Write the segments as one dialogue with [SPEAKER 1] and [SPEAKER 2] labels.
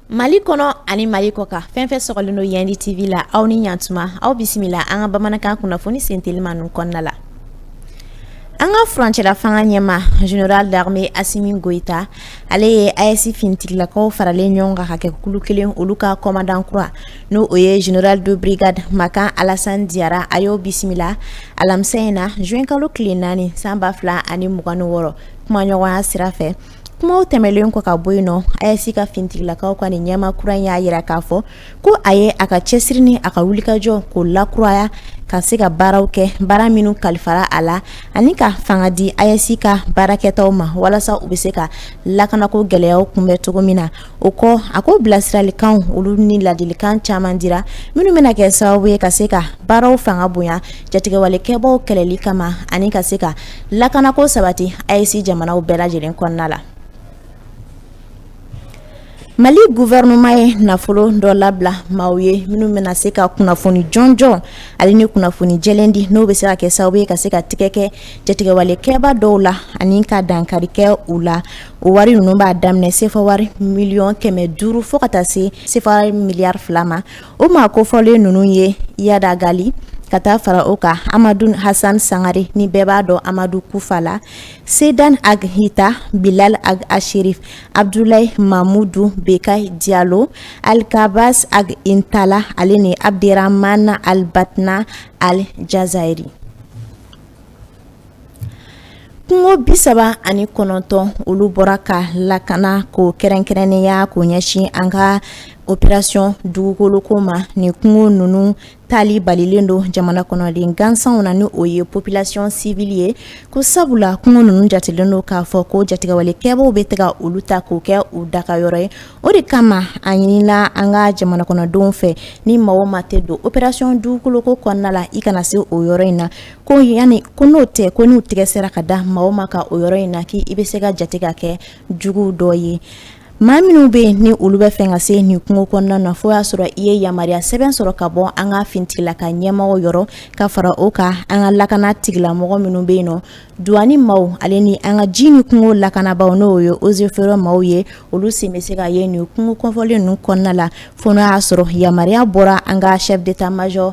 [SPEAKER 1] Mali kɔnɔ ani mali kɔkan fɛn fɛn sɔgɔlen don yandi tv la aw ni ɲatuma aw bisimila an ka bamanankan kunnafoni sentelima ninnu kɔnɔna la an ka furancɛla fanga ɲɛmaa general d'armée asimi goyita ale ye AES fintigilakaw faralen ɲɔgɔn kan ka kɛ kulu kelen olu ka komandan kura Ni o ye general de brigade makan alasan jara a y'o bisimila alamisa in na zuwɛnkalo tile naani san ba fila ani mugan ni wɔɔrɔ kumaɲɔgɔnya sira fɛ kumaw tɛmɛnlen kɔ ka bɔ yen nɔ AES ka fintigilakaw ka nin ɲɛmaa kura in y'a jira k'a fɔ ko a ye a ka cɛsiri ni a ka wulikajɔ k'o lakuraya ka se ka baaraw kɛ baara minnu kalifara a la ani ka fanga di AES ka baarakɛtaw ma walasa u bɛ se ka lakanako gɛlɛyaw kunbɛn cogo min na o kɔ a ko bilasiralikanw olu ni laadilikan caman dira minnu bɛna kɛ sababu ye ka se ka baaraw fanga bonya jatigɛwalekɛbaw kɛlɛli kama ani ka se ka lakanako sabati AES jamanaw bɛɛ lajɛlen kɔnɔna la mali guvɛrɛnɛma ye nafolo dɔ labila maaw ye minnu bɛna se ka kunnafoni jɔnjɔn ale ni kunnafoni jɛlen di n'o bɛ se ka kɛ sababu ye ka se ka tigɛ kɛ jatigɛwalekɛba dɔw la ani ka dankarikɛ u la o wari ninnu b'a daminɛ sefa wari miliyɔn kɛmɛ duuru fo ka taa se sefa miliyari fila ma o maa kofɔlen ninnu ye iyad ag ghali ka taa fara o kan amadun hasan sangare ni bɛɛ b'a dɔn amadu kufa la sedan ag hita bilal ag asherif abudulayi mamudu bekayi jalo alghabass ag intala ale ni abudramana al batna al jazairi Kungo bi saba ani kɔnɔntɔn olu bɔra ka lakana k'o kɛrɛnkɛrɛnnenya k'o ɲɛsin an ka opération dugukoloko ma ni kungo ninnu taali balilen don jamana kɔnɔden gansanw na ni o ye population civile ye ko sabula kungo ninnu jatelen don k'a fɔ ko jatigɛwalekɛbaw bɛ taga olu ta k'o kɛ u dagayɔrɔ ye o de kama a ɲinina an ka jamana kɔnɔdenw fɛ ni maa o maa tɛ don opération dugukoloko kɔnɔna la i kana se o yɔrɔ in na ko yanni ko n'o tɛ ko n'u tɛgɛ sera ka da maa o maa kan o yɔrɔ in na k' i bɛ se ka jate ka kɛ jugu dɔ ye maa minnu bɛ yen ni olu b'a fɛ ka se nin kungo kɔnɔna na fo y'a sɔrɔ i ye yamaruya sɛbɛn sɔrɔ ka bɔ an ka fintigilakaw ɲɛmɔgɔ yɔrɔ ka fara o kan an ka lakana tigilamɔgɔ minnu bɛ yen nɔ duwani maaw ale ni an ka ji ni kungo lakanabaa n'o ye eaux et forêts maaw ye olu sen bɛ se ka ye nin kungo kofɔlen ninnu kɔnɔna la fo y'a sɔrɔ yamaruya bɔra an ka chef d'état-major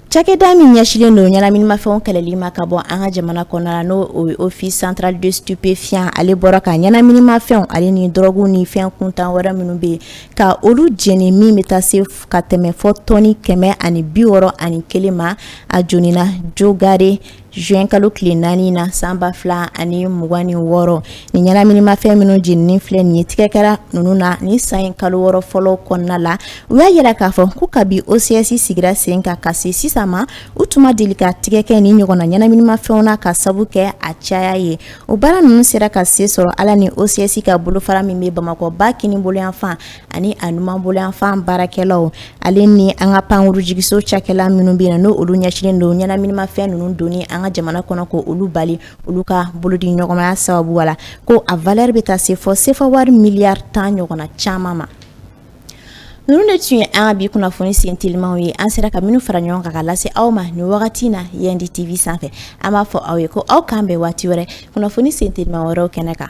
[SPEAKER 1] Cakɛda min ɲɛsinlen don ɲɛnaminimafɛnw kɛlɛli ma ka bɔ an ka jamana kɔnɔna la n'o Office central des stupéfiants ale bɔra ka ɲɛnaminimafɛnw ale ni dɔrɔguw ni fɛn kuntan wɛrɛ minnu bɛ yen ka olu jeni min bɛ taa se ka tɛmɛ fɔ tɔnni kɛmɛ ani bi wɔɔrɔ ani kelen ma a jenina Dio Gare Zuwɛn kalo tile naani na san ba fila ani mugan ni wɔɔrɔ nin ɲɛnaminimafɛn minnu jeninen filɛ nin ye tɛgɛ kɛra ninnu na nin san in kalo wɔɔrɔ fɔlɔ kɔnɔna la u y'a yira k'a fɔ ko kabi OCS sigira sen ka ka se sisan ma u tun deli ka tɛgɛ kɛ nin ɲɔgɔnna ɲɛnaminimafɛnw na ka sabu kɛ a caya ye o baara ninnu sera ka sen sɔrɔ ala ni OCS ka bolofara min bɛ Bamakɔ ba kinin boloyanfan ani a numan boloyanfan baarakɛlaw ale ni an ka pankurunjiginso cakɛla minnu bɛ na n'olu ɲɛsinlen don ɲɛnaminimafɛn ninnu don an ka jamana kɔnɔ k'olu bali olu ka bolodiɲɔgɔnmaya sababu la ko a v bɛ taa se fɔ sefa wari miliyari tan ɲɔgɔnna caman ma ninnu de tun ye an ka bi kunnafoni sen telimaw ye an sera ka minnu fara ɲɔgɔn kan ka lase aw ma nin wagati na yandi TV sanfɛ an b'a fɔ aw ye ko k'an bɛn waati wɛrɛ kunnafoni sen telima wɛrɛw kɛnɛ kan